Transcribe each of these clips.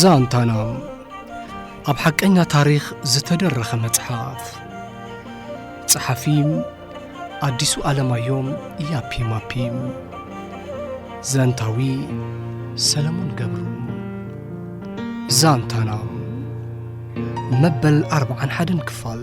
ዛንታና ኣብ ሓቀኛ ታሪኽ ዝተደረኸ መጽሓፍ ጸሓፊ ኣዲሱ ኣለማዮም ኢያፒ ማፒ ዘንታዊ ሰለሞን ገብሩ ዛንታና መበል ኣርብዓን ሓደን ክፋል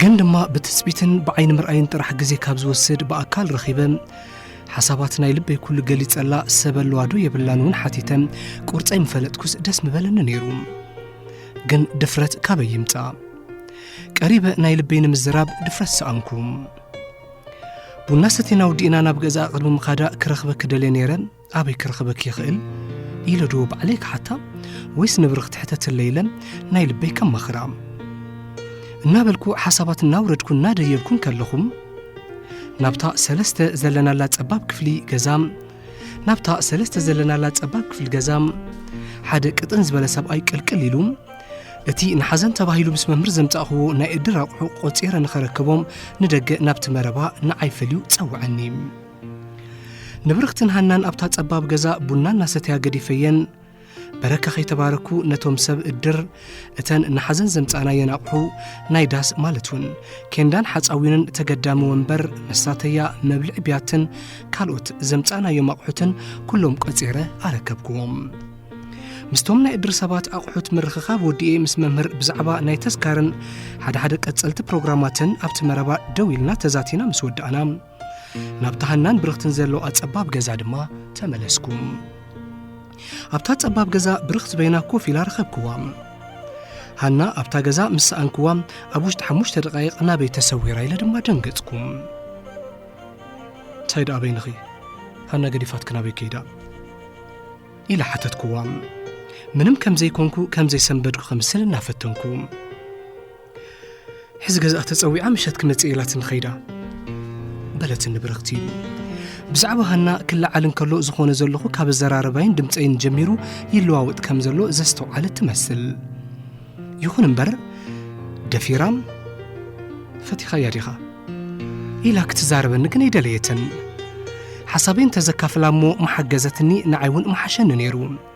ግን ድማ ብትጽቢትን ብዓይኒ ምርኣይን ጥራሕ ግዜ ካብ ዝወስድ ብኣካል ረኺበ ሓሳባት ናይ ልበይ ኩሉ ገሊጸላ ሰብ ኣለዋ ዶ የብላን እውን ሓቲተ ቁርፀይ ምፈለጥኩስ ደስ ምበለኒ ነይሩ ግን ድፍረት ካበይ ይምፃ ቀሪበ ናይ ልበይ ንምዝራብ ድፍረት ሰኣንኩ ቡና ሰቴና ውዲእና ናብ ገዛ ቅድሚ ምኻዳ ክረኽበ ክደልየ ነይረ ኣበይ ክረኽበኪ ይኽእል ኢለ ዶ ባዕለይ ክሓታ ወይስ ንብሪ ክትሕተትለ ኢለን ናይ ልበይ ከማኽራ እናበልኩ ሓሳባት እናውረድኩ እናደየብኩን ከለኹም ናብታ ሰለስተ ዘለናላ ጸባብ ክፍሊ ገዛ ናብታ ሰለስተ ዘለናላ ጸባብ ክፍሊ ገዛ ሓደ ቅጥን ዝበለ ሰብኣይ ቅልቅል ኢሉ እቲ ንሓዘን ተባሂሉ ምስ መምህር ዘምጻእኽዎ ናይ እድር ኣቑሑ ቆጺረ ንኸረከቦም ንደገ ናብቲ መረባ ንዓይ ፈልዩ ጸውዐኒ ንብርኽትን ሃናን ኣብታ ጸባብ ገዛ ቡና እናሰተያ ገዲፈየን በረካ ከይተባረኩ ነቶም ሰብ እድር እተን ንሓዘን ዘምጻእናየን ኣቑሑ ናይ ዳስ ማለት እውን ኬንዳን ሓፃዊንን ተገዳሚ ወንበር መሳተያ መብልዒ ብያትን ካልኦት ዘምጻእናዮም ኣቑሑትን ኩሎም ቆጺረ ኣረከብክዎም ምስቶም ናይ እድር ሰባት ኣቑሑት ምርኽኻብ ወዲኤ ምስ መምህር ብዛዕባ ናይ ተስካርን ሓደ ሓደ ቀጸልቲ ፕሮግራማትን ኣብቲ መረባ ደው ኢልና ተዛቲና ምስ ወዳእና ናብታ ሃናን ብርኽትን ዘለዋ ጸባብ ገዛ ድማ ተመለስኩ ኣብታ ጸባብ ገዛ ብርኽት በይና ኮፍ ኢላ ረኸብክዋ ሃና ኣብታ ገዛ ምስ ሰኣንክዋ ኣብ ውሽጢ ሓሙሽተ ደቃይቕ ናበይ ተሰዊራ ኢለ ድማ ደንገጽኩም እንታይ ደኣ በይንኺ ሃና ገዲፋት ክናበይ ከይዳ ኢለ ሓተትክዋ ምንም ከም ዘይኮንኩ ከም ዘይሰንበድኩ ከምስል እናፈተንኩ ሕዚ ገዛኣ ተጸዊዓ ምሸት ክመጽእ ኢላትኒ ኸይዳ በለትኒ ብርኽቲ ብዛዕባ ሃና ክለዓል እንከሎ ዝኾነ ዘለኹ ካብ ኣዘራረባይን ድምፀይን ጀሚሩ ይለዋወጥ ከም ዘሎ ዘስተውዓለት ትመስል ይኹን እምበር ደፊራም ፈቲኻያ ዲኻ ኢላ ክትዛረበኒ ግን ኣይደለየትን ሓሳበይ እንተዘካፍላ እሞ መሓገዘትኒ ንዓይ እውን መሓሸኒ ነይሩ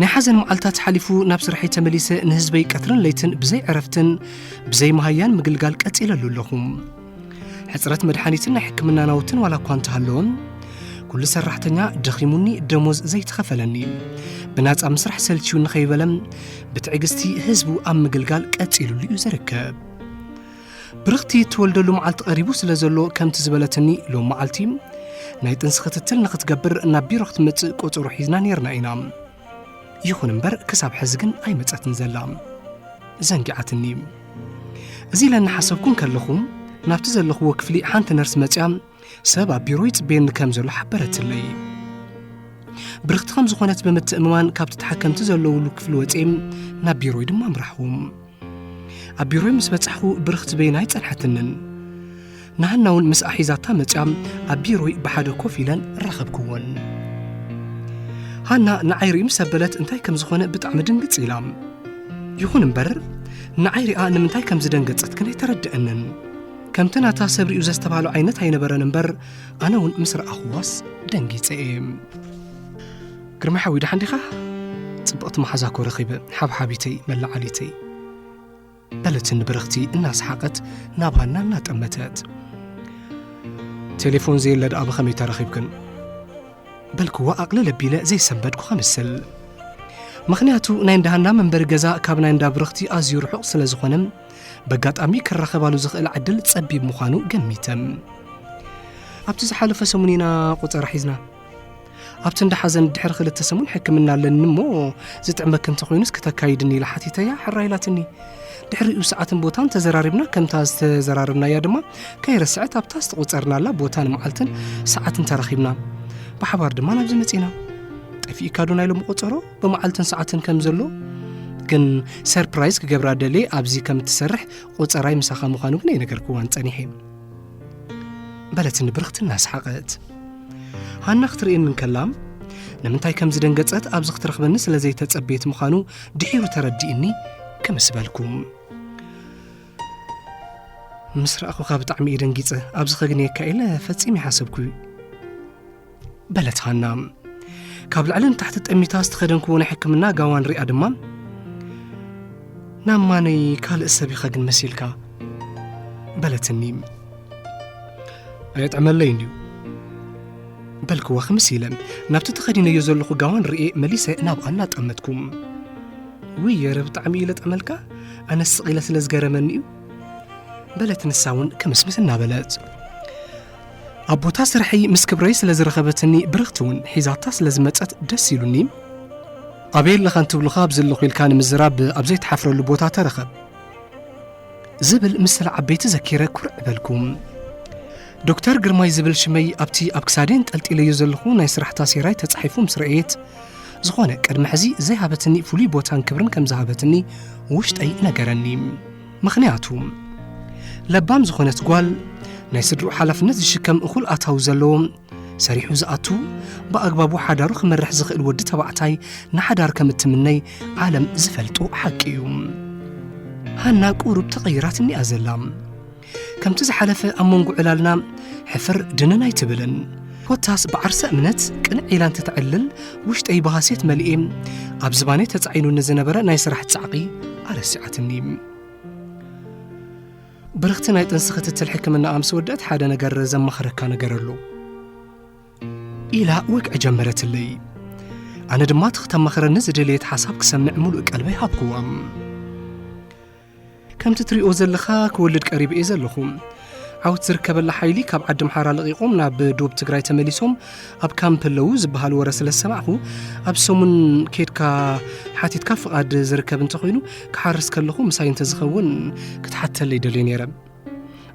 ናይ ሓዘን መዓልታት ሓሊፉ ናብ ስርሐይ ተመሊሰ ንህዝበይ ቀትርን ለይትን ብዘይ ዕረፍትን ብዘይ መሃያን ምግልጋል ቀጺለሉ ኣለኹ ሕፅረት መድሓኒትን ናይ ሕክምና ናውትን ዋላ እኳ እንተሃለወም ኩሉ ሰራሕተኛ ደኺሙኒ ደሞዝ ዘይተኸፈለኒ ብናፃ ምስራሕ ሰልችዩ ንኸይበለም ብትዕግስቲ ህዝቡ ኣብ ምግልጋል ቀጺሉሉ እዩ ዝርከብ ብርኽቲ እትወልደሉ መዓልቲ ቀሪቡ ስለ ዘሎ ከምቲ ዝበለትኒ ሎም መዓልቲ ናይ ጥንሲ ክትትል ንክትገብር ናብ ቢሮ ክትመጽእ ቆጸሮ ሒዝና ነርና ኢና ይኹን እምበር ክሳብ ሕዚ ግን ኣይመጸትን ዘላ ዘንጊዓትኒ እዚ ኢለ እናሓሰብኩን ከለኹ ናብቲ ዘለኽዎ ክፍሊ ሓንቲ ነርስ መጽያ ሰብ ኣብ ቢሮ ይጽበየኒ ከም ዘሎ ሓበረትለይ ብርኽቲ ከም ዝኾነት ብምትእምማን ካብቲ ተሓከምቲ ዘለውሉ ክፍሊ ወፅም ናብ ቢሮይ ድማ ምራሕዎም ኣብ ቢሮይ ምስ በጻሕኹ ብርኽቲ በይና ኣይጸንሐትንን ንሃና እውን ምስ ኣሒዛታ መፅያም ኣብ ቢሮይ ብሓደ ኮፍ ኢለን ረኸብክወን ሃና ንዓይ ርእዩ ምስ ኣበለት እንታይ ከም ዝኾነ ብጣዕሚ ድንግፅ ኢላ ይኹን እምበር ንዓይ ሪኣ ንምንታይ ከም ዝደንገጸት ግን ኣይተረድአንን ከምቲ ናታ ሰብ ሪኡ ዘስተብሃሎ ዓይነት ኣይነበረን እምበር ኣነ እውን ምስ ረኣኹዋስ ደንጊፀ እየ ግርማ ሓዊ ደሓን ዲኻ ፅብቕቲ መሓዛ ኮ ረኺበ ሓብሓቢተይ መላዓሊተይ በለትን ብርኽቲ እናሰሓቐት ናብ ሃና እናጠመተት ቴሌፎን ዘየለ ደኣ ብኸመይ ተረኺብክን በልክዋ ኣቕልል ኣቢለ ዘይሰንበድኩ ከምስል ምክንያቱ ናይ እንዳ ሃና መንበሪ ገዛ ካብ ናይ እንዳ ብርኽቲ ኣዝዩ ርሑቕ ስለ ዝኾነ በጋጣሚ ክራኸባሉ ዝኽእል ዕድል ጸቢብ ምዃኑ ገሚተ። ኣብቲ ዝሓለፈ ሰሙን ኢና ቁጸራ ሒዝና። ኣብቲ እንዳ ሓዘን ድሕሪ ክልተ ሰሙን ሕክምና ኣለኒ እሞ ዝጥዕመኪ እንተኾይኑ እስኪ ተካይድኒ ኢላ ሓቲተያ ሕራ ኢላትኒ። ድሕሪኡ ሰዓትን ቦታን ተዘራሪብና ከምታ ዝተዘራረብናያ ድማ ከይረስዐት ኣብታ ዝተቖፀርናላ ቦታን መዓልትን ሰዓትን ተራኺብና ብሓባር ድማ ናብዚ መፂና ጠፊእካ ዶ ናይ ሎሚ ቆፀሮ ብመዓልትን ሰዓትን ከም ዘሎ ግን ሰርፕራይዝ ክገብራ ደልየ ኣብዚ ከም እትሰርሕ ቁፀራይ ምሳኻ ምዃኑ ግን ኣይነገርክዋን ጸኒሐ በለትኒ ብርኽቲ እናሰሓቐት ሃና ክትርእየኒ እንከላ ንምንታይ ከም ዝደንገጸት ኣብዚ ክትረኽበኒ ስለ ዘይተጸበየት ምዃኑ ድሒሩ ተረዲእኒ ክምስ በልኩ ምስ ረኣኹካ ብጣዕሚ እየ ደንጊጸ ኣብዚ ከግንየካ ኢለ ፈጺመ ይሓሰብኩ እዩ በለት ሃና ካብ ልዕሊ ንታሕቲ ጠሚታ ዝተኸደንክዎ ናይ ሕክምና ጋዋን ሪኣ ድማ ናብ ማነይ ካልእ ሰብ ኢኻ ግን መሲልካ በለትኒ ኣየጥዕመለይ እንድዩ በልክዋ ክምስ ኢለ ናብቲ ተኸዲነዮ ዘለኹ ጋዋን ርኤ መሊሰ ናብኣ እናጠመትኩም ውይ የረ ብጣዕሚ ኢለ ጠመልካ ኣነ ስቕ ኢለ ስለ ዝገረመኒ እዩ በለት ንሳ እውን ክምስምስ እናበለት ኣብ ቦታ ስርሐይ ምስ ክብረይ ስለ ዝረኸበትኒ ብርኽቲ እውን ሒዛታ ስለ ዝመጸት ደስ ኢሉኒ ኣበይ ኣለኻ እንትብሉኻ ኣብዚ ኣለኹ ኢልካ ንምዝራብ ኣብ ዘይትሓፍረሉ ቦታ ተረኸብ ዝብል ምስል ዓበይቲ ዘኪረ ኩርዕ በልኩም ዶክተር ግርማይ ዝብል ሽመይ ኣብቲ ኣብ ክሳደ እንጠልጢለዮ ዘለኹ ናይ ስራሕታ ሴራይ ተጻሒፉ ምስ ረእየት ዝኾነ ቅድሚ ሕዚ ዘይሃበትኒ ፍሉይ ቦታን ክብርን ከም ዝሃበትኒ ውሽጠይ ነገረኒ ምኽንያቱ ለባም ዝኾነት ጓል ናይ ስድርኡ ሓላፍነት ዝሽከም እኹል ኣታዊ ዘለዎ ሰሪሑ ዝኣቱ ብኣግባቡ ሓዳሩ ክመርሕ ዝኽእል ወዲ ተባዕታይ ንሓዳር ከም እትምነይ ዓለም ዝፈልጦ ሓቂ እዩ ሃና ቁሩብ ተቐይራት እኒኣ ዘላ ከምቲ ዝሓለፈ ኣብ መንጎ ዕላልና ሕፍር ድንን ኣይትብልን ኮታስ ብዓርሰ እምነት ቅንዕ ኢላ እንትተዕልል ውሽጠይ ብሃሴት መሊኤ ኣብ ዝባነይ ተጻዒኑ ንዝነበረ ናይ ስራሕ ጻዕቒ ኣረሲዓትኒ ብርኽቲ ናይ ጥንሲ ክትትል ሕክምና ኣምስ ወደት ሓደ ነገር ዘማኸረካ ነገር ኣሎ ኢላ ወግዒ ጀመረትለይ ኣነ ድማ እቲ ክተማኽረኒ ዝደለየት ሓሳብ ክሰምዕ ሙሉእ ቀልበይ ሃብክዋ ከምቲ ትሪኦ ዘለኻ ክወልድ ቀሪበ እየ ዘለኹ። ዓወት ዝርከበላ ሓይሊ ካብ ዓዲ ኣምሓራ ለቒቖም ናብ ዶብ ትግራይ ተመሊሶም ኣብ ካምፕ ኣለዉ ዝበሃል ወረ ስለ ዝሰማዕኹ ኣብ ሰሙን ኬድካ ሓቲትካ ፍቓድ ዝርከብ እንተኾይኑ ክሓርስ ከለኹ ምሳይ እንተዝኸውን ክትሓተለይ ደልየ ነይረ።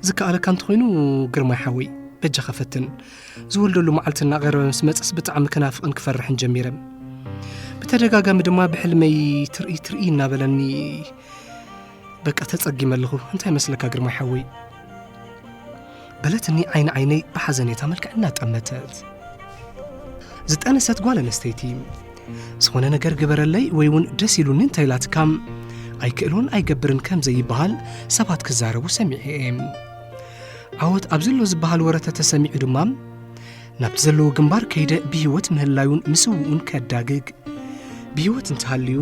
ዝከኣለካ እንተኾይኑ ግርማይ ሓወይ በጃኻ ፈትን ዝወልደሉ መዓልቲ እናቐረበ ምስ መፅስ ብጣዕሚ ክናፍቕን ክፈርሕን ጀሚረ ብተደጋጋሚ ድማ ብሕልመይ ትርኢ ትርኢ እናበለኒ በቃ ተጸጊመ ኣለኹ እንታይ መስለካ ግርማይ ሓወይ በለትኒ ዓይኒ ዓይነይ ብሓዘኔታ መልክዕ እናጠመተት ዝጠነሰት ጓል ኣነስተይቲ ዝኾነ ነገር ግበረለይ ወይ እውን ደስ ኢሉኒ እንተኢላትካ ኣይክእሎን ኣይገብርን ከም ዘይበሃል ሰባት ክዛረቡ ሰሚዐ እየ ዓወት ኣብ ዘሎ ዝበሃል ወረ ተተሰሚዑ ድማ ናብቲ ዘለዎ ግንባር ከይደ ብህይወት ምህላዩን ምስውኡን ከዳግግ ብህይወት እንተሃልዩ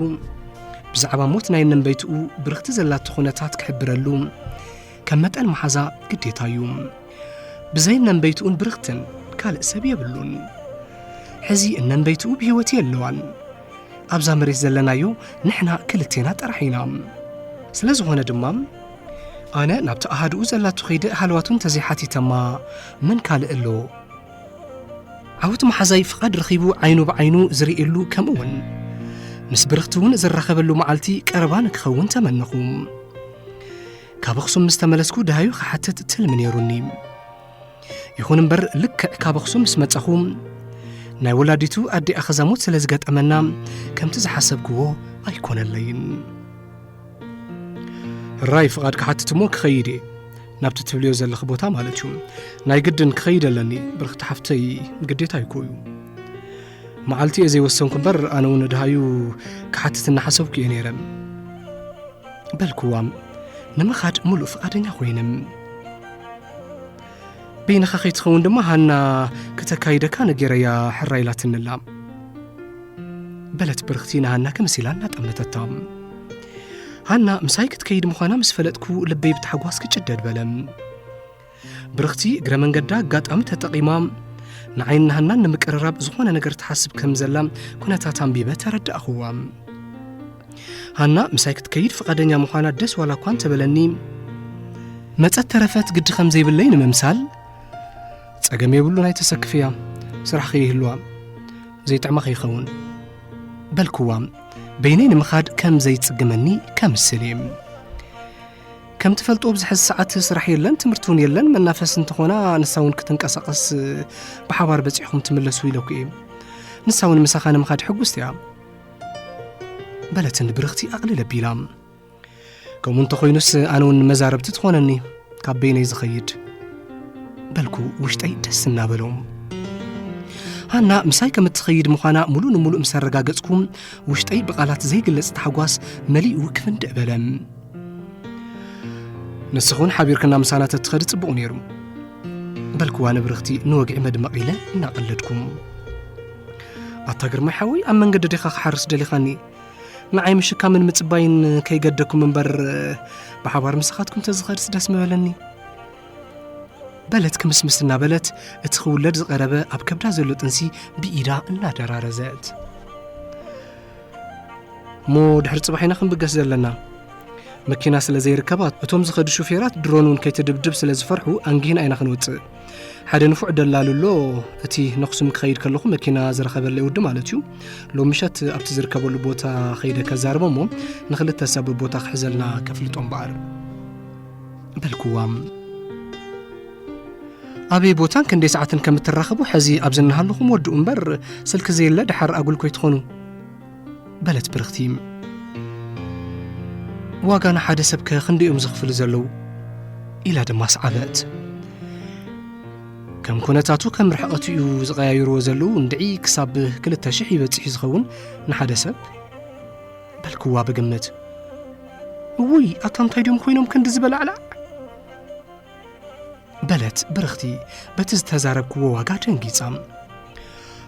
ብዛዕባ ሞት ናይ ነንበይትኡ ብርኽቲ ዘላቶ ኩነታት ክሕብረሉ ከም መጠን መሓዛ ግዴታ እዩ ብዘይ እነንበይትኡን ብርኽትን ካልእ ሰብ የብሉን ሕዚ እነንበይትኡ ብህይወት የለዋን ኣብዛ መሬት ዘለናዮ ንሕና ክልቴና ጥራሕ ኢና ስለ ዝኾነ ድማ ኣነ ናብቲ ኣሃድኡ ዘላቱ ኸይደ ሃለዋቱ እንተዘይሓቲተማ መን ካልእ ኣሎ ዓወት መሓዛይ ፍቓድ ረኺቡ ዓይኑ ብዓይኑ ዝርእየሉ ከምኡ እውን ምስ ብርኽቲ እውን ዝራኸበሉ መዓልቲ ቀረባ ንክኸውን ተመነኹ ካብ ኣኽሱም ምስ ተመለስኩ ደሃዩ ክሓትት ትልሚ ነይሩኒ ይኹን እምበር ልክዕ ካብ ኣኽሱም ምስ መጻኹ ናይ ወላዲቱ ኣዲ ኣኸዛሙት ስለ ዝገጠመና ከምቲ ዝሓሰብክዎ ኣይኮነለይን ራይ ፍቓድ ክሓትት እሞ ክኸይድ እየ ናብቲ ትብልዮ ዘለኺ ቦታ ማለት እዩ ናይ ግድን ክኸይድ ኣለኒ ብርኽቲ ሓፍተይ ግዴታ ይኮ እዩ መዓልቲ እየ ዘይወሰንኩ እምበር ኣነ እውን ድሃዩ ክሓትት እናሓሰብኩ እየ ነይረ በልክዋ ንምኻድ ሙሉእ ፍቓደኛ ኮይነ በይንኻ ከይትኸውን ድማ ሃና ክተካይደካ ነገረያ ሕራ ኢላትንላ በለት ብርኽቲ ንሃና ከምሲላ እናጠመተታ ሃና ምሳይ ክትከይድ ምዃና ምስ ፈለጥኩ ልበይ ብታሕጓስ ክጭደድ በለ ብርኽቲ እግረ መንገዳ ኣጋጣሚ ተጠቒማ ንዓይን ናህናን ንምቅርራብ ዝኾነ ነገር ትሓስብ ከም ዘላ ኩነታት ኣንቢበ ተረዳእኽዋ ሃና ምሳይ ክትከይድ ፍቓደኛ ምዃና ደስ ዋላ እኳ እንተበለኒ መጸት ተረፈት ግዲ ከም ዘይብለይ ንምምሳል ጸገም የብሉን ኣይተሰክፍያ ስራሕ ከይህልዋ ዘይጥዕማ ከይኸውን በልክዋ በይነይ ንምኻድ ከም ዘይጽግመኒ ከምስል እየ ከም ትፈልጦ ኣብዚ ሕዚ ሰዓት ስራሕ የለን ትምህርቲ እውን የለን መናፈስ እንተኾና ንሳ እውን ክትንቀሳቐስ ብሓባር በፂሕኹም ትምለሱ ኢለኩ እዩ ንሳ እውን ምሳኻ ንምኻድ ሕጉስቲ እያ በለትን ብርኽቲ ኣቕልል ኣቢላ ከምኡ እንተኾይኑስ ኣነ እውን መዛረብቲ ትኾነኒ ካብ በይነይ ዝኸይድ በልኩ ውሽጠይ ደስ እናበሎ ሃና ምሳይ ከም እትኸይድ ምዃና ሙሉእ ንሙሉእ ምስ ኣረጋገጽኩ ውሽጠይ ብቓላት ዘይግለጽ ታሕጓስ መሊኡ ክፍንድዕ በለ ንስኹን ሓቢርክና ምሳና ተትኸዲ ጽቡቕ ነይሩ በልክዋ ንብርኽቲ ንወግዒ መድመቕ ኢለ እናቐለድኩም ኣታ ግርማ ሓወይ ኣብ መንገዲ ዲኻ ክሓርስ ደሊኻኒ ንዓይ ምሽካምን ምጽባይን ከይገደኩም እምበር ብሓባር ምሳኻትኩም ተዝኸድስ ደስ ምበለኒ በለት ክምስምስ እናበለት እቲ ክውለድ ዝቐረበ ኣብ ከብዳ ዘሎ ጥንሲ ብኢዳ እናደራረዘት እሞ ድሕሪ ጽባሕ ኢና ክንብገስ ዘለና መኪና ስለ ዘይርከባት እቶም ዝኸዱ ሹፌራት ድሮን እውን ከይትድብድብ ስለ ዝፈርሑ ኣንጊህና ኢና ክንወጽእ ሓደ ንፉዕ ደላሉ ኣሎ እቲ ነኽሱም ክኸይድ ከለኹ መኪና ዝረኸበለይ ወዲ ማለት እዩ ሎሚ ምሸት ኣብቲ ዝርከበሉ ቦታ ኸይደ ከዛርቦ እሞ ንክልተ ሰብ ቦታ ክሕዘልና ከፍልጦም በኣር በልክዋም ኣበይ ቦታን ክንደይ ሰዓትን ከም እትራኸቡ ሕዚ ኣብዚ እናሃለኹም ወድኡ እምበር ስልኪ ዘየለ ድሓር ኣጉል ኮይትኾኑ በለት ብርኽቲ ዋጋ ንሓደ ሰብ ከ ክንደይ እዮም ዝኽፍሉ ዘለዉ ኢላ ድማ ሰዓበት ከም ኩነታቱ ከም ርሕቐቱ እዩ ዝቐያይርዎ ዘለዉ እንድዒ ክሳብ ክልተ ሽሕ ይበፅሕ እዩ ዝኸውን ንሓደ ሰብ በልክዋ ብግምት እውይ ኣታ እንታይ ድዮም ኮይኖም ክንዲ ዝበላዕላዕ በለት ብርኽቲ በቲ ዝተዛረብክዎ ዋጋ ደንጊጻ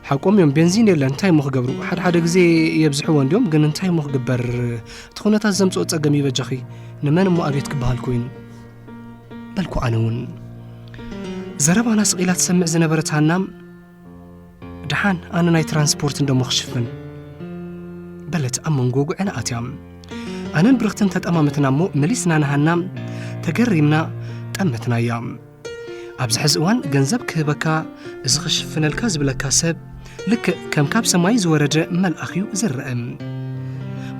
ሓቆም እዮም ቤንዚን የለን እንታይ ሞ ክገብሩ ሓደሓደ ግዜ የብዝሕዎ እንዲዮም ግን እንታይ ሞ ክግበር እቲ ኩነታት ዘምፅኦ ፀገም ይበጃኺ ንመን እሞ ኣብት ክበሃል ኮይኑ በልኩ ኣነ እውን ዘረባና ስቒላ ትሰምዕ ዝነበረት ሃና ድሓን ኣነ ናይ ትራንስፖርት እንደሞ ክሽፍን በለት ኣብ መንጎ ጉዕን ኣትያ ኣነን ብርኽትን ተጠማመትና እሞ መሊስና ንሃና ተገሪምና ጠመትናያ ኣብዚ ሕዚ እዋን ገንዘብ ክህበካ እዚ ክሽፍነልካ ዝብለካ ሰብ ልክዕ ከም ካብ ሰማይ ዝወረደ መልኣኽ እዩ ዝረአ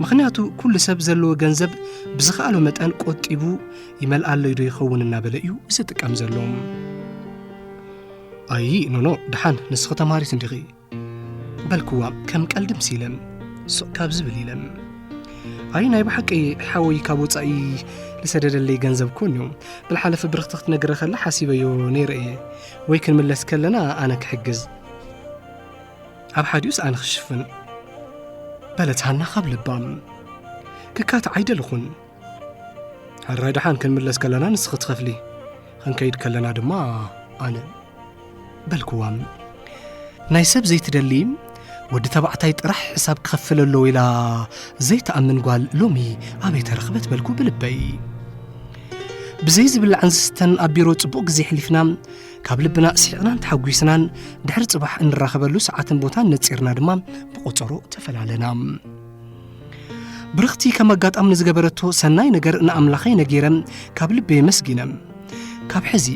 ምኽንያቱ ኩሉ ሰብ ዘለዎ ገንዘብ ብዝኸኣሎ መጠን ቆጢቡ ይመልኣለይ ዶ ይኸውን እናበለ እዩ ዝጥቀም ዘሎ ኣዪ ኖኖ ደሓን ንስኺ ተማሃሪት እንዲኺ በልክዋ ከም ቀልዲ ምስ ኢለን ሱቕ ካብ ዝብል ኢለን ኣይ ናይ ብሓቂ ሓወይ ካብ ወፃኢ ዝሰደደለይ ገንዘብ ኮን እዩ ብልሓለፈ ብርኽቲ ክትነግረ ከላ ሓሲበዮ ነይረ እየ ወይ ክንምለስ ከለና ኣነ ክሕግዝ ኣብ ሓዲኡስ ኣነ ክሽፍን በለት ሃና ካብ ልባ ክካት ዓይደልኹን ሕራይ ድሓን ክንምለስ ከለና ንስኺ ትኸፍሊ ክንከይድ ከለና ድማ ኣነ በልክዋም ናይ ሰብ ዘይትደሊ ወዲ ተባዕታይ ጥራሕ ሕሳብ ክኸፍል ኣሎ ኢላ ዘይትኣምን ጓል ሎሚ ኣበይ ተረኽበት በልኩ ብልበይ ብዘይ ዝብላዕን ዝስተን ኣብ ቢሮ ጽቡቕ ግዜ ሕሊፍና ካብ ልብና ስሒቕናን ተሓጒስናን ድሕሪ ጽባሕ እንራኸበሉ ሰዓትን ቦታን ነጺርና ድማ ብቖጸሮ ተፈላለና ብርኽቲ ከም ኣጋጣሚ ንዝገበረቶ ሰናይ ነገር ንኣምላኸይ ነጊረ ካብ ልበይ ኣመስጊነ ካብ ሕዚ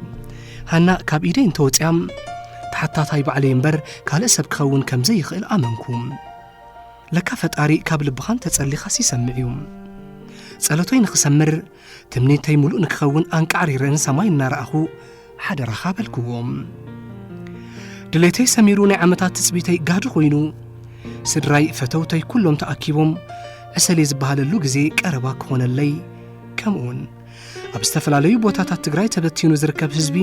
ሃና ካብ ኢደይ እንተወፅያ ተሓታታይ ባዕለይ እምበር ካልእ ሰብ ክኸውን ከም ዘይኽእል ኣመንኩ ለካ ፈጣሪ ካብ ልብኻ እንተጸሊኻስ ይሰምዕ እዩ ጸሎተይ ንኽሰምር ትምኒተይ ምሉእ ንክኸውን ኣንቃዕሪረን ሰማይ እናረኣኹ ሓደራኻ በልክዎ ድሌተይ ሰሚሩ ናይ ዓመታት ትጽቢተይ ጋዲ ኮይኑ ስድራይ ፈተውተይ ኩሎም ተኣኪቦም ዕሰሌ ዝበሃለሉ ግዜ ቀረባ ክኾነለይ ከምኡውን ኣብ ዝተፈላለዩ ቦታታት ትግራይ ተበቲኑ ዝርከብ ህዝቢ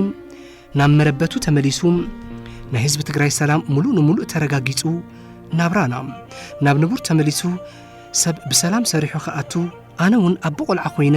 ናብ መረበቱ ተመሊሱ ናይ ህዝቢ ትግራይ ሰላም ሙሉእ ንሙሉእ ተረጋጊጹ ናብራና ናብ ንቡር ተመሊሱ ሰብ ብሰላም ሰሪሑ ክኣቱ ኣነ እውን ኣቦ ቆልዓ ኮይነ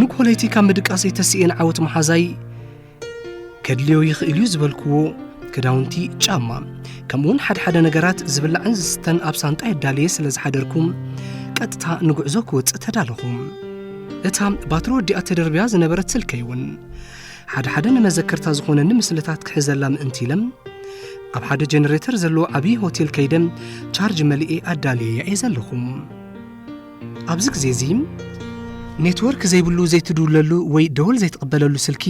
ንኮለይቲ ካብ ምድቃሰይ ተስእን ዓወት መሓዛይ ከድልዮ ይኽእል እዩ ዝበልክዎ ክዳውንቲ ጫማ ከምኡውን ሓድሓደ ነገራት ዝብላዕን ዝስተን ኣብ ሳንጣ የዳልየ ስለ ዝሓደርኩ ቀጥታ ንጉዕዞ ክወፅእ ተዳለኹ እታ ባትሪ ወዲኣ ተደርብያ ዝነበረት ስልከይ እውን ሓድሓደ ንመዘከርታ ዝኾነኒ ምስልታት ክሕዘላ ምእንቲ ኢለ ኣብ ሓደ ጀነሬተር ዘለዎ ዓብዪ ሆቴል ከይደ ቻርጅ መልኤ ኣዳልየያ እየ ዘለኹ ኣብዚ ግዜ እዚ ኔትወርክ ዘይብሉ ዘይትድውለሉ ወይ ደወል ዘይትቕበለሉ ስልኪ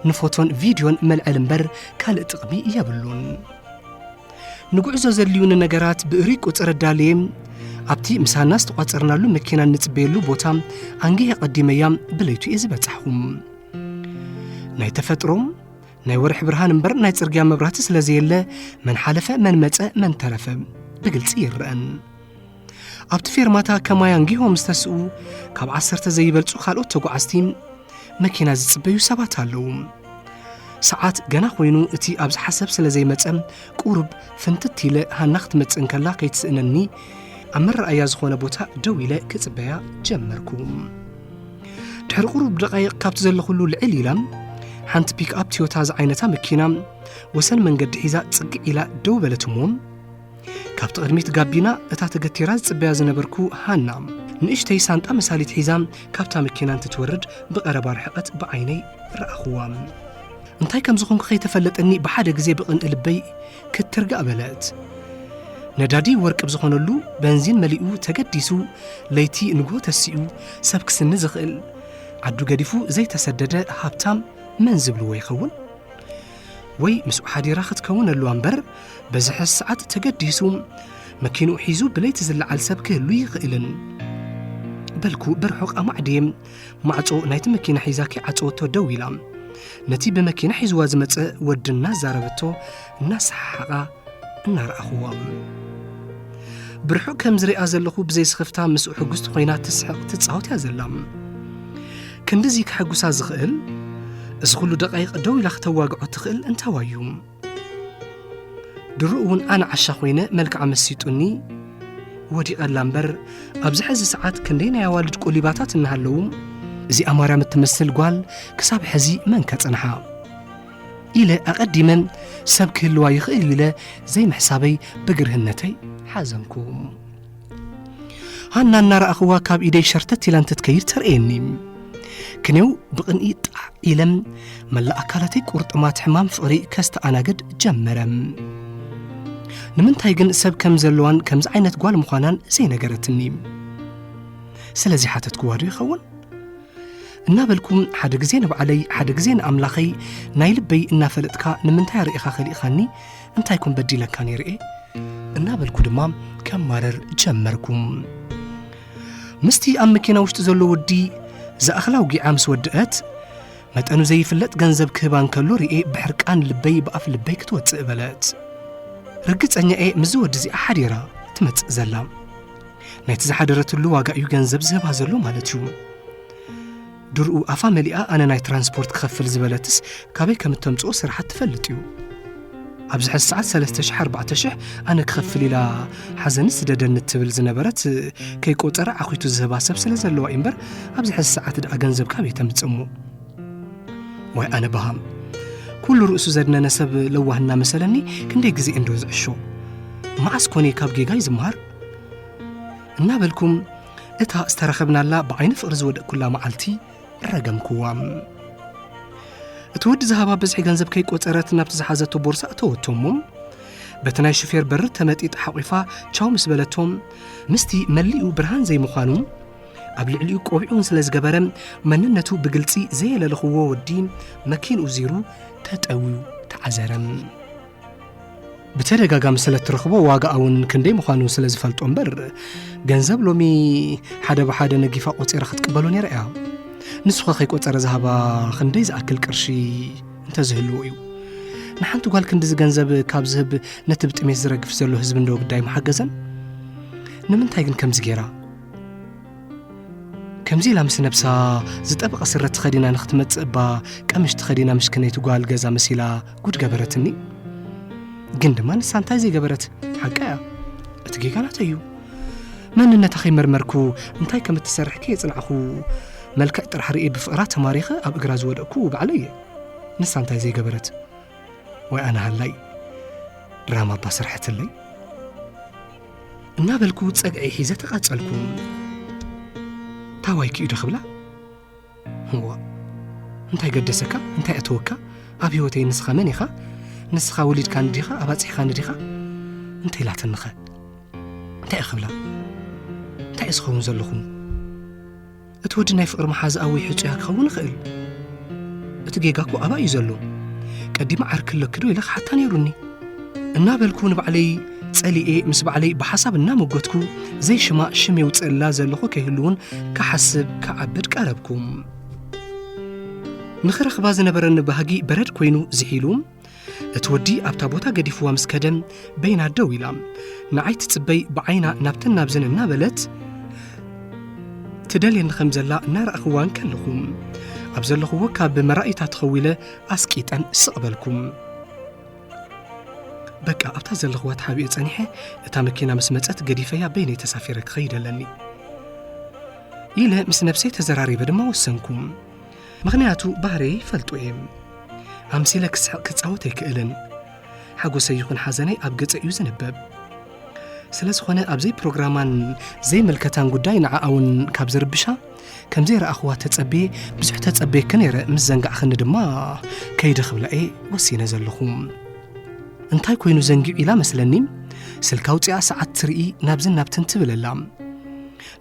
ንፎቶን ቪድዮን መልዐል እምበር ካልእ ጥቕሚ የብሉን ንጉዕዞ ዘድልዩኒ ነገራት ብእሪ ቁፅር ኣዳልየ ኣብቲ ምሳና ዝተቋፀርናሉ መኪና እንፅበየሉ ቦታ ኣንጊሀ ቀዲመያ ብለይቱ እየ ዝበፃሕኹም ናይ ተፈጥሮም ናይ ወርሒ ብርሃን እምበር ናይ ጽርግያ መብራህቲ ስለ ዘየለ መን ሓለፈ መን መጸ መን ተረፈ ብግልጺ ይረአን ኣብቲ ፌርማታ ከማይ ኣንጊሆም ዝተስኡ ካብ ዓሰርተ ዘይበልጹ ካልኦት ተጓዓዝቲ መኪና ዝጽበዩ ሰባት ኣለዉ ሰዓት ገና ኮይኑ እቲ ኣብ ዝሓሰብ ስለ ዘይመጸ ቁርብ ፍንትት ኢለ ሃና ክትመጽእ እንከላ ከይትስእነኒ ኣብ መረኣያ ዝኾነ ቦታ ደው ኢለ ክጽበያ ጀመርኩ ድሕሪ ቁሩብ ደቃይቕ ካብቲ ዘለኹሉ ልዕል ኢላ ሓንቲ ፒክኣፕ ትዮታ ዝዓይነታ መኪና ወሰን መንገዲ ሒዛ ጽግዕ ኢላ ደው በለት እሞ ካብቲ ቅድሚት ጋቢና እታ ተገቲራ ዝጽበያ ዝነበርኩ ሃና ንእሽተይ ሳንጣ መሳሊት ሒዛ ካብታ መኪና እንትትወርድ ብቐረባ ርሕቐት ብዓይነይ ረኣኽዋ እንታይ ከም ዝኾንኩ ከይተፈለጠኒ ብሓደ ግዜ ብቕንኢ ልበይ ክትርጋእ በለት። ነዳዲ ወርቂ ብዝኾነሉ በንዚን መሊኡ ተገዲሱ ለይቲ ንግሆ ተሲኡ ሰብ ክስኒ ዝኽእል ዓዱ ገዲፉ ዘይተሰደደ ሃብታም መን ዝብልዎ ይኸውን? ወይ ምስኡ ሓዲራ ክትከውን ኣለዋ እምበር በዚ ሕዚ ሰዓት ተገዲሱ መኪንኡ ሒዙ ብለይቲ ዝለዓል ሰብ ክህሉ ይኽእልን በልኩ ብርሑቕ ኣማዕድየ ማዕጾ ናይቲ መኪና ሒዛ ከይዓጸወቶ ደው ኢላ ነቲ ብመኪና ሒዝዋ ዝመጸ ወዲ እናዛረበቶ እናሰሓሓቓ እናረኣኹዎ ብርሑቕ ከም ዝሪኣ ዘለኹ ብዘይስኽፍታ ምስኡ ሕጉስቲ ኮይና ትስሕቕ ትጻወት እያ ዘላ ክንድዚ ከሐጉሳ ዝኽእል እዚ ዅሉ ደቓይቕ ደው ኢላ ክተዋግዖ ትኽእል እንታዋዩ ድሮ እውን ኣነ ዓሻ ኮይነ መልክዓ መሲጡኒ ወዲቐላ እምበር ኣብዚ ሕዚ ሰዓት ክንደይ ናይ ኣዋልድ ቆሊባታት እናሃለዉ እዚኣ ማርያም እትመስል ጓል ክሳብ ሕዚ መን ከጽንሓ ኢለ ኣቐዲመን ሰብ ክህልዋ ይኽእል ኢለ ዘይምሕሳበይ ብግርህነተይ ሓዘንኩ ሃና እናረኣኽዋ ካብ ኢደይ ሸርተት ኢላ እንትትከይድ ተርእየኒ ክንው ብቕንኢ ጣዕ ኢለም መላእ ኣካላተይ ቁርጥማት ሕማም ፍቕሪ ከስተኣናግድ ጀመረ ንምንታይ ግን ሰብ ከም ዘለዋን ከምዚ ዓይነት ጓል ምዃናን ዘይነገረትኒ ስለዚ ሓተትክዋ ዶ ይኸውን እናበልኩም ሓደ ግዜ ንባዕለይ ሓደ ግዜ ንኣምላኸይ ናይ ልበይ እናፈለጥካ ንምንታይ ኣርእኻ ከሊእኻኒ እንታይ ኮን በዲለካ ነይርኤ እናበልኩ ድማ ከማረር ጀመርኩ ምስቲ ኣብ መኪና ውሽጢ ዘሎ ወዲ ዝኣኽላ ውጊዓ ምስ ወድአት መጠኑ ዘይፍለጥ ገንዘብ ክህባ እንከሎ ርኤ ብሕርቃን ልበይ ብኣፍ ልበይ ክትወፅእ በለት ርግፀኛ እየ ምስዚ ወዲ እዚኣ ሓዲራ ትመፅእ ዘላ ናይቲ ዝሓደረትሉ ዋጋ እዩ ገንዘብ ዝህባ ዘሎ ማለት እዩ ድርኡ ኣፋ መሊኣ ኣነ ናይ ትራንስፖርት ክኸፍል ዝበለትስ ካበይ ከም እተምጽኦ ስርሓት ትፈልጥ እዩ ኣብዚ ሕዚ ሰዓት 34000 ኣነ ክኸፍል ኢላ ሓዘኒ ስደደኒ እትብል ዝነበረት ከይቆፀረ ዓኺቱ ዝህባ ሰብ ስለ ዘለዋ እዩ እምበር ኣብዚ ሕዚ ሰዓት ደኣ ገንዘብ ካበይ ተምፅእ እሞ ዋይ ኣነ በሃም ኩሉ ርእሱ ዘድነነ ሰብ ለዋህና መሰለኒ ክንደይ ግዜ እንዶ ዝዕሾ መዓስ ኮነ ካብ ጌጋይ ዝምሃር እናበልኩም እታ ዝተረኸብናላ ብዓይኒ ፍቕሪ ዝወደቅኩላ መዓልቲ ረገምክዋ እቲ ወዲ ዝሃባ ብዝሒ ገንዘብ ከይቆፀረት ናብቲ ዝሓዘቶ ቦርሳ እተወቶ እሞ በቲ ናይ ሹፌር በሪ ተመጢጥ ሓቝፋ ቻው ምስ በለቶም ምስቲ መሊኡ ብርሃን ዘይምዃኑ ኣብ ልዕሊኡ ቆቢዑን ስለ ዝገበረ መንነቱ ብግልፂ ዘየለለኽዎ ወዲ መኪንኡ ዚሩ ተጠውዩ ተዓዘረም ብተደጋጋሚ ስለ እትረኽቦ ዋጋኣ እውን ክንደይ ምዃኑ ስለ ዝፈልጦ እምበር ገንዘብ ሎሚ ሓደ ብሓደ ነጊፋ ቆፂራ ክትቅበሎ ነይራ እያ ንሱኸ ከይቆፀረ ዝሃባ ክንደይ ዝኣክል ቅርሺ እንተዝህልዎ እዩ ንሓንቲ ጓል ክንዲዚ ገንዘብ ካብ ዝህብ ነቲ ብጥሜት ዝረግፍ ዘሎ ህዝቢ እንዶ ግዳይ ምሓገዘን ንምንታይ ግን ከምዚ ገይራ ከምዚ ኢላ ምስ ነብሳ ዝጠበቐ ስረ ተኸዲና ንክትመፅእ እባ ቀምሽ ተኸዲና ምሽክነይቲ ጓል ገዛ መሲላ ጉድ ገበረትኒ ግን ድማ ንሳ እንታይ ዘይገበረት ሓቂ እያ እቲ ጌጋ ናተይ እዩ መንነታ ከይመርመርኩ እንታይ ከም እትሰርሕ ከየፅናዕኹ መልክዕ ጥራሕ ርኤ ብፍቕራ ተማሪኸ ኣብ እግራ ዝወደቅኩ ባዕለ እየ ንሳ እንታይ ዘይገበረት ወይ ኣነ ሃላይ ድራማ እባ ስርሐትለይ እናበልኩ ፀግዒ ሒዘ ተቓፀልኩ ታዋይ ክኢዶ ክብላ እዋእ እንታይ ገደሰካ እንታይ ኣተወካ ኣብ ህይወተይ ንስኻ መን ኢኻ ንስኻ ወሊድካኒ ዲኻ ኣባጺሕካኒ ዲኻ እንታይ ኢላትንኸ እንታይ ክብላ እንታይ ዝኸውን ዘለኹ እቲ ወዲ ናይ ፍቕሪ መሓዝኣ ወይ ሕጹያ ክኸውን ይኽእል እቲ ጌጋ እኮ ኣባ እዩ ዘሎ ቀዲማ ዓርኪ ኣለኪ ዶ ኢለ ክሓታ ነይሩኒ እናበልኩ ንባዕለይ ጸሊኤ ምስ ባዕለይ ብሓሳብ እናመጎትኩ ዘይሽማ ሽም የውፅእላ ዘለኹ ከይህሉውን ክሓስብ ክዓብድ ቀረብኩ ንኽረኽባ ዝነበረኒ ባህጊ በረድ ኮይኑ ዝሒሉ እቲ ወዲ ኣብታ ቦታ ገዲፍዋ ምስ ከደ በይና ደው ኢላ ንዓይ ትጽበይ ብዓይና ናብተን ናብዘን እናበለት ትደልየኒ ከም ዘላ እናረእኽዋ እንከለኹ ኣብ ዘለኽዎ ካብ መራእይታ ተኸዊለ ኣስቂጠን ስቕ በልኩም በቃ ኣብታ ዘለኽዋ ተሓቢኦ ጸኒሐ እታ መኪና ምስ መጸት ገዲፈያ በይነይ ተሳፊረ ክኸይድ ኣለኒ ኢለ ምስ ነብሰይ ተዘራሪበ ድማ ወሰንኩ ምኽንያቱ ባህርየይ ይፈልጡ እየ ኣምሲለ ክስሕቕ ክጻወት ኣይክእልን ሓጎሰይ ይኹን ሓዘነይ ኣብ ገጸ እዩ ዝንበብ ስለ ዝኾነ ኣብዘይ ፕሮግራማን ዘይምልከታን ጉዳይ ንዓኣ እውን ካብ ዝርብሻ ከም ዘይረኣኽዋ ተጸቤ ብዙሕ ተጸቤኪ ነይረ ምስ ዘንጋዕኽኒ ድማ ከይደ ክብላ እየ ወሲነ ዘለኹ እንታይ ኮይኑ ዘንጊዑ ኢላ መስለኒ ስልካ ውፅኣ ሰዓት ትርኢ ናብዝን ናብትን ትብል ኣላ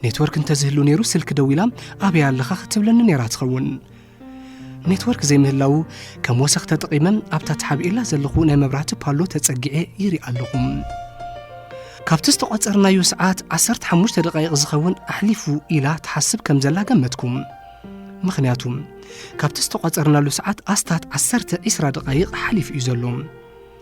ኔትወርክ እንተዝህሉ ነይሩ ስልኪ ደው ኢላ ኣበይ ኣለኻ ክትብለኒ ነይራ ትኸውን ኔትወርክ ዘይምህላዉ ከም ወሰኽ ተጠቒመ ኣብታ ተሓቢኡላ ዘለኹ ናይ መብራህቲ ፓሎ ተጸጊዐ ይርኢ ኣለኹ ካብቲ ዝተቖጸርናዮ ሰዓት 15 ደቃይቕ ዝኸውን ኣሕሊፉ ኢላ ትሓስብ ከም ዘላ ገመትኩም ምክንያቱ ካብቲ ዝተቋፀርናሉ ሰዓት ኣስታት 10 20 ደቃይቕ ሓሊፉ እዩ ዘሎ